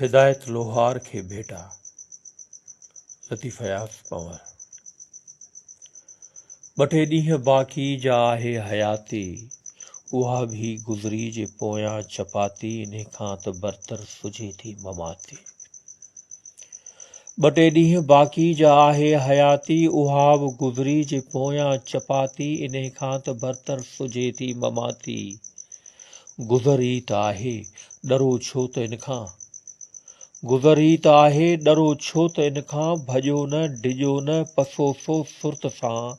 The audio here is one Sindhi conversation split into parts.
هدايت لوهار کي ڀيٽا، لطيف اياز پنور. ٻه ٽي ڏينهن باقي جا آهي حياتي، اها به گذري جي پويان چپاتي، انهي کان ته برتر سجهي ٿي مماتي. ٻه ٽي ڏينهن باقي جا آهي حياتي، اها به گذري جي پويان چپاتي، انهي کان ته برتر سجهي ٿي مماتي. گذر ئي ته آهي، ڏرو ڇو ته ان کان؟ گذر ئي ته آهي، ڏرو ڇو ته ان کان؟ ڀڄو نه، ڊڄو نه، پسو سو سرت سان،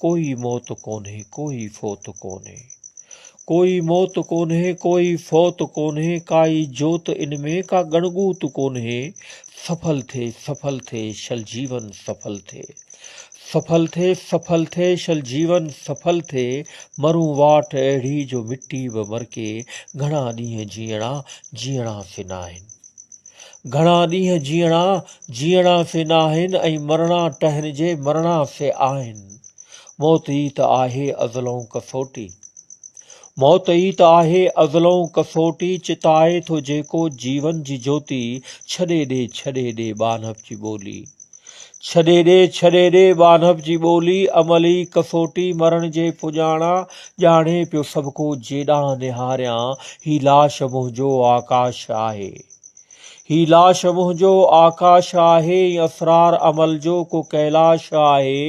ڪوئي موت ڪونهي، ڪوئي فوت ڪونهي. ڪوئي موت ڪونهي، ڪوئي فوت ڪونهي، ڪائي جوت ان ۾، ڪا ڳڻڳوت ڪونهي. سڦل ٿي، سڦل ٿي، شل جيون سڦل ٿي. سڦل ٿي سڦل ٿي شل جيون سڦل ٿي مرون واٽ اهڙي جو مٽي به مرڪي گهڻا ڏينهن جيئڻا جيئڻا سي ناهن گهڻا ڏينهن جيئڻا جيئڻا سي ناهن ۽ مرڻا ٽهن جي مرڻا سي آهن موت ئي ته آهي ازلئون ڪسوٽي موت ئي ته آهي ازلئون ڪسوٽي چتائي ٿو جيڪو جيون جي جوتي ڇڏي ڏي ڇڏي ڏي ٻانهپ جي ٻولي ڇڏي ڏي، ڇڏي ڏي، ٻانهپ جي ٻولي، عملي ڪسوٽي، مرڻ جي پڄاڻا، ڄاڻي پيو سڀڪو جيڏانهن نهاريان، هي لاش منهنجو آڪاش آهي. هي لاش منهنجو آڪاش آهي، هي اسرار عمل جو ڪو ڪيلاش آهي،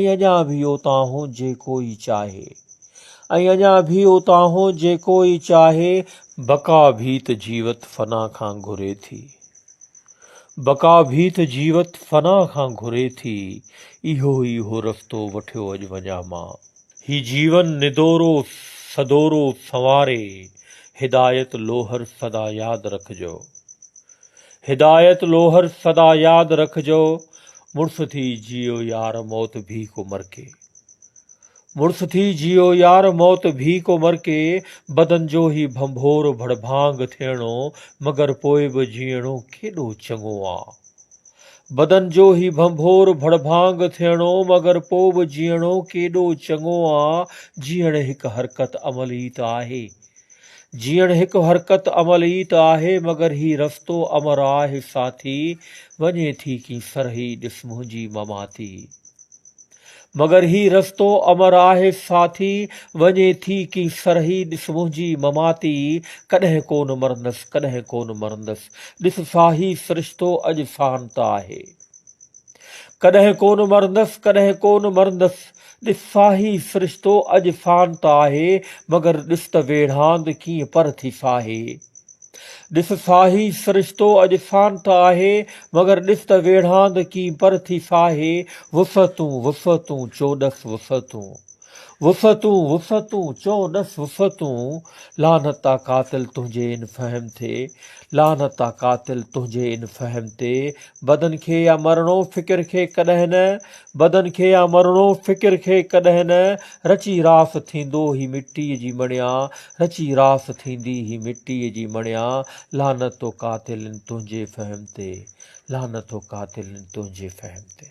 ۽ اڃا ڀي اوتانهون جيڪو ئي چاهي. ۽ اڃا ڀي اوتانهون جيڪو ئي چاهي. بقا ڀيت جيوت فنا کان گهري ٿي. بقا ڀي ته جيوت فنا کان گهري ٿي، اهو ئي اهو رستو وٺيو اڄ وڃان مان. هي جيون ندورو سدورو سنواري، هدايت لوهر سدا ياد رکجو. هدايت لوهر سدا ياد رکجو، مڙس ٿي جيئو يار موت ڀي ڪو مرڪي. مڙس ٿي جيئو يار موت ڀي ڪو مرڪي بدن جو هي ڀنڀور ڀڙڀانگ ٿيڻو مگر پوء به جيئڻو ڪيڏو چڱو آ بدن جو هي ڀنڀور ڀڙڀانگ ٿيڻو مگر پوء به جيئڻو ڪيڏو چڱو آ جيئڻ هڪ حرڪت عمل ئي ته آهي جيئڻ هڪ حرڪت عمل ئي ته آهي مگر هي رستو امر آهه ساٿي وڃي ٿي ڪين سرهي ڏس منهنجي مماتي مگر هي رستو امر آهي ساٿي، وڃي ٿي ڪي سرهي، ڏس منهنجي مماتي، ڪڏهن ڪونه مرندس، ڪڏهن ڪونه مرندس، ڏس ساهي سرشتو اڄ سان ته آهي. ڪڏهن ڪونه مرندس، ڪڏهن ڪونه مرندس، ڏس ساهي سرشتو اڄ سان ته آهي، مگر ڏس ته ويڙهاند ڪيئن پر ٿي ساهي. ڏس ساهي سرشتو اڄ سانت آهي، مگر ڏس ته ويڙهاند ڪين پر ٿي ساهي، وسعتون وسعتون چو ڏس وسعتون. وسعتون وسعتون چو ڏس وسعتون، لعنت آ قاتل تنهنجي ان فهم تي، لعنت آ قاتل تنهنجي ان فهم تي، بدن کي يا مرڻو فڪر کي ڪڏهن نه، بدن کي يا مرڻو فڪر کي ڪڏهن نه، رچي راس ٿيندو هي مٽيء جي مڻيا، رچي راس ٿيندي هي مٽيء جي مڻيا لعنت هو قاتلن تنهنجي فهم تي لعنت هو قاتلن تنهنجي فهم تي.